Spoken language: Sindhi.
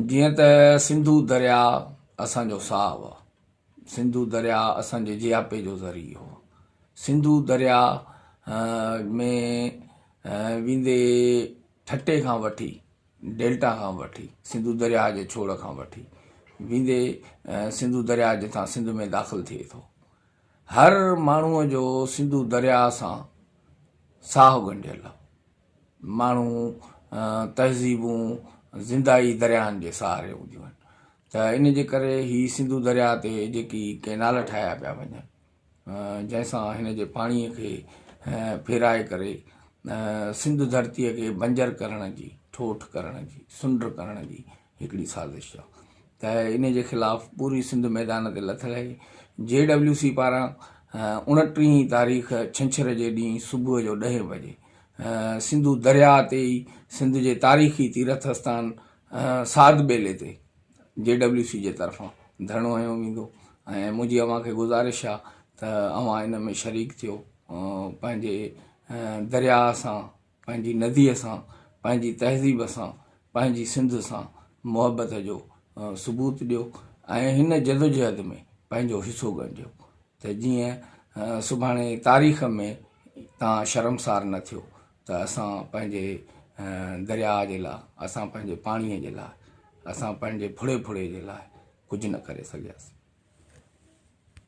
جيئن ته سنڌو درياء اسان جو ساهه هو، سنڌو درياء اسان جي جياپي جو ذريعو هو، سنڌو درياء ۾ ويندي ٺٽي کان وٺي ڊيلٽا کان وٺي سنڌو درياء جي ڇوڙ کان وٺي ويندي سنڌو درياء جتان سنڌ ۾ داخل ٿئي ٿو هر ماڻهوء جو سنڌو درياء سان ساهه ڳنڍيل هو ماڻهو، تهذيبون زنده ئي درياهن جي سهاري هونديون آهن ته ان جي ڪري هي سنڌو درياهه تي جيڪي ڪئنال ٺاهيا پيا وڃن جنهن سان هن جي پاڻي کي ڦيرائي ڪري سنڌ ڌرتي کي بنجر ڪرڻ جي ٺوٺ ڪرڻ جي سنڊ ڪرڻ جي هڪڙي سازش آ ته ان جي خلاف پوري سنڌ ميدان تي لٿل آهي، جي ڊبليو سي پاران اوڻٽيهين تاريخ ڇنڇر جي ڏينهن صبح جو ڏهين بجي سنڌو درياء تي ئي سنڌ جي تاريخي تيرٿ اسٿان ساڌ ٻيلي تي جي ڊبليو سي جي طرفان ڌرڻو هنيو ويندو ۽ منهنجي اوهان کي گذارش آ ته اوهان ان ۾ شريڪ ٿيو پنهنجي درياء سان پنهنجي نديء سان، پنهنجي تهذيب سان، پنهنجي سنڌ سان محبت جو ثبوت ڏيو ۽ هن جدوجهد ۾ پنهنجو حصو ڳڻجو ته جيئن سڀاڻي تاريخ ۾ تان شرمسار نه ٿيو ته اسان پنهنجي درياء جي لاء، اسان پنهنجي پاڻيء جي لاء، اسان پنهنجي ڦڙي ڦڙي جي لاء ڪجهه نه ڪري سگهياسين.